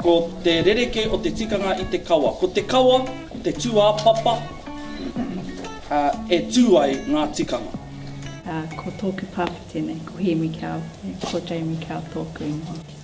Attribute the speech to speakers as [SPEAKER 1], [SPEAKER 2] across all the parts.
[SPEAKER 1] Ko te rerekē o te tikanga i te kawa. Ko te kawa te tūāpapa e tū ai ngā tikanga. Ko
[SPEAKER 2] tōku pāpā tēnei, ko Hēmi Kao, ko Jamie Kao tōku ingoa.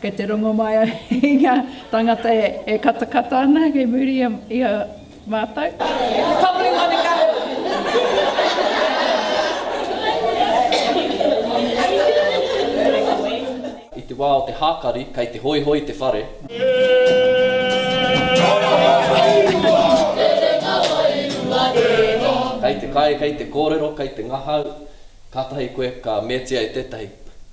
[SPEAKER 2] Kei te rongo mai au i ngā tāngata e katakata ana kei muri i a mātou. Kāore ngā
[SPEAKER 3] mea katoa.
[SPEAKER 4] I te wā o te hākari, kei te hoihoi te whare. Kei te kai, kei te kōrero, kei te ngahau, kātahi koe ka meatia e tētahi.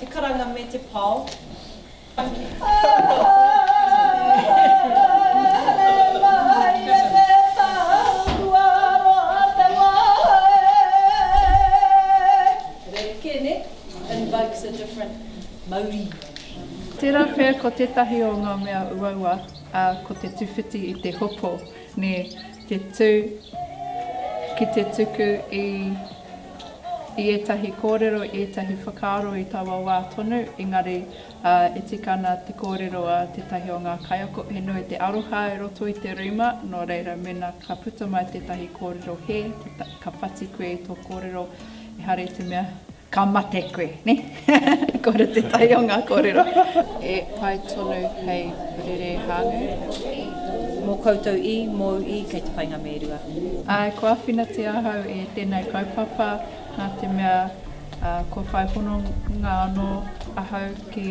[SPEAKER 3] Te karanga me te pao. Rerekē, nē? Invokes a different mauri. Tērā
[SPEAKER 2] pea ko tētahi o ngā mea uaua, ā, ko te tuwhiti i te hopo, nē? Te tū ki te tuku i i ētahi kōrero, i ētahi whakaaro i taua wā tonu, engari e tika ana te kōrero a tētahi o ngā kaiako, he nui te aroha i roto i te rima, nō reira mēnā ka puta mai tētahi kōrero hē, ka whati koe i tō kōrero, ehara i te mea. Ka mate koe, ne? Kore te tai o nga korero. E pai tonu hei rere hāngu. Mo koutou i,
[SPEAKER 3] mou i, kei te painga me rua. Ae, ko awhinatia
[SPEAKER 2] ahau e tenei kaupapa na te mea kua whai hononga ano ahau ki.